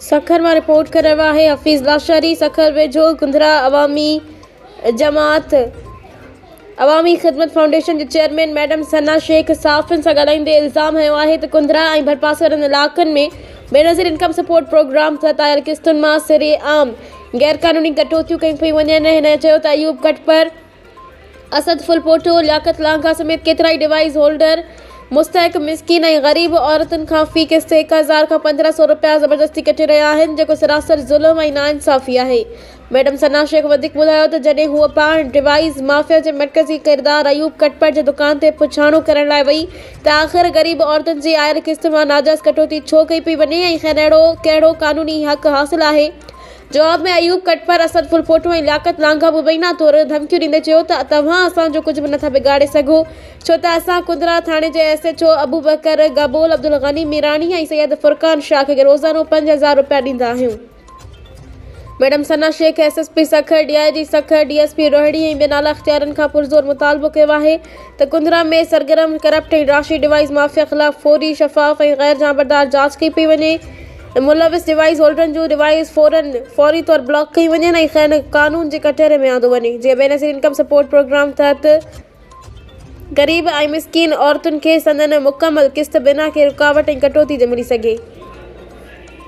سکر مان رپورٽ ڪري رهيو آهي حفيظ لاشاري سکر ويجهو گندرا عوامي جماعت عوامي خدمت فائونڊيشن جي چيئرمين ميڊم ثنا شيخ صحافين سان ڳالهائيندي الزام هنيو آهي ته گندرا ۽ ڀرپاسي وارن علائقن ۾ بينظير انڪم سپورٽ پروگرام تحت آيل قسطن مان سرعام غيرقانوني ڪٽوتيون ڪيون پيون وڃن هن چيو ته ايوب ڪٽپر اسد ڦلپوٽو، لياقت لانگاهه سميت ڪيترائي ڊوائيس هولڊر مستحق مسڪين ۽ غريب عورتن کان في قسط هڪ هزار کان پندرهن سئو رپيا زبردستي ڪٽي رهيا آهن جيڪو سراسر ظلم ۽ ناانصافي آهي. ميڊم ثنا شيخ وڌيڪ ٻڌايو ته جڏهن هوء پاڻ ڊوائيس مافيا جي مرڪزي ڪردار ايوب ڪٽپر جي دڪان تي پڇاڻو ڪرڻ لاء وئي ته آخر غريب عورتن جي آيل قسط مان ناجائز ڪٽوتي ڇو ڪئي پئي وڃي ۽ کين اهڙو ڪهڙو قانوني حق حاصل آهي جواب ۾ ايوب ڪٽپر، اسد ڦلپوٽو ۽ لياقت لانگاهه مبينا طور ڌمڪيون ڏيندي چيو ته توهان اسان جو ڪجهه به نٿا بگاڙي سگهو ڇو ته اسان ڪنرا ٿاڻي جي S H O Abubakar Gabol, Abdul Ghani Mirani ۽ Syed Furqan Shah کي روزانو پنج هزار روپيا ڏيندا آهيون. Madam Sana Shaikh, S S P Sukkur, D I G Sukkur, D S P Rohri ۽ ٻين اعليٰ اختيارين کان پرزور مطالبو ڪيو آهي ته ڪنرا ۾ سرگرم ڪرپٽ ۽ راشي ڊوائيز مافيا خلاف فوري، شفاف ۽ غير جانبدار جاچ ڪئي پئي وڃي. ملوث ڊوائيس هولڊرن جون ڊوائيس فورن فوري طور بلاڪ ڪيون وڃن ۽ کين قانون جي ڪٽهڙي ۾ آندو وڃي جيئن بينظير انڪم سپورٽ پروگرام تحت غريب ۽ مسڪين عورتن کي سندن مڪمل قسط بنا ڪنهن رڪاوٽ ۽ ڪٽوتي جي ملي سگهي.